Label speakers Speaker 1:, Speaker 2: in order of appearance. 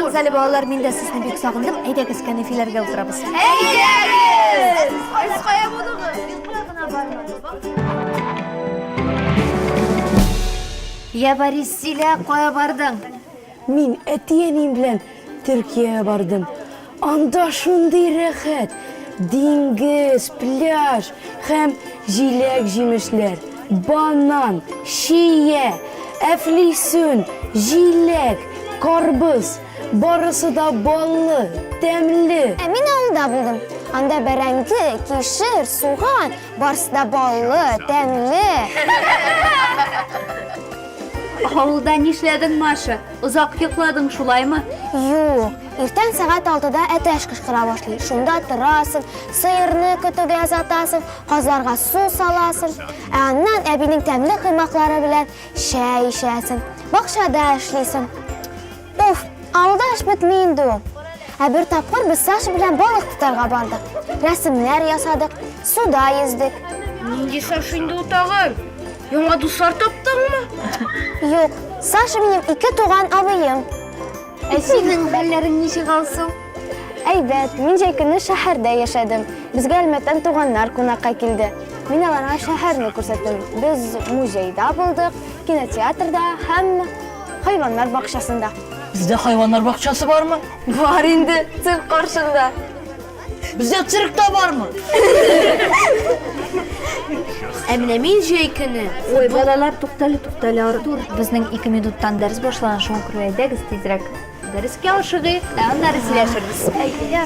Speaker 1: Әйдәгез әле балалар, мин дә сезне бик сагындым. Әйдәгез кәнәфиләргә утырабыз. Я Борис Силә кая бардың? Мин
Speaker 2: әти-әнием белән Төркиягә бардым. Анда шундый рәхәт, диңгез, пляж һәм җиләк-җимешләр, банан, чия, әфлисүн, җиләк, карбыз, Барысы да баллы, тәмле. Ә мин авылда булдым.
Speaker 3: Анда бәрәңге, кишер, суган, барысы да баллы, тәмле.
Speaker 1: Авылда нишләдең, Маша? Озак йокладың шулаймы? Юк,
Speaker 3: иртән сәгать алтыда әтәч кычкыра башлый. Шунда торасың, сыерны көтүгә озатасың, казларга су саласың. Ә аннан әбинең тәмле коймаклары белән Чәй эчәсең, бакчада эшлисең. Уф, авылда эш бетми инде ул. Ә бер тапкыр без Саша белән балык тотарга бардык. Рәсемнәр ясадык, суда йөздек. Нинди Саша
Speaker 4: инде ул тагын? Яңа дуслар таптыңмы? Юк,
Speaker 3: Саша минем ике туган абыем. Ә синең
Speaker 1: хәлләрең ничек алсу? Әйбәт,
Speaker 3: мин җәй көне шәһәрдә яшәдем. Безгә Әлмәттән туганнар кунакка килде. Мин аларга шәһәрне күрсәттем. Без музейда булдык, кинотеатрда һәм хайваннар бакчасында. Бездә хайваннар
Speaker 2: бакчасы бармы? Бар инде,
Speaker 3: цирк каршында. Бездә
Speaker 2: цирк та бармы?
Speaker 4: Ә менә мин җәй көне. Ой, балалар,
Speaker 1: туктале, туктале, Артур. Безнең ике минуттан дәрес башлана, шуңа күрә әйдәгез тизрәк. Дәрескә ашыгыйк,
Speaker 4: ә
Speaker 1: аннары сөйләшербез. Әйдә.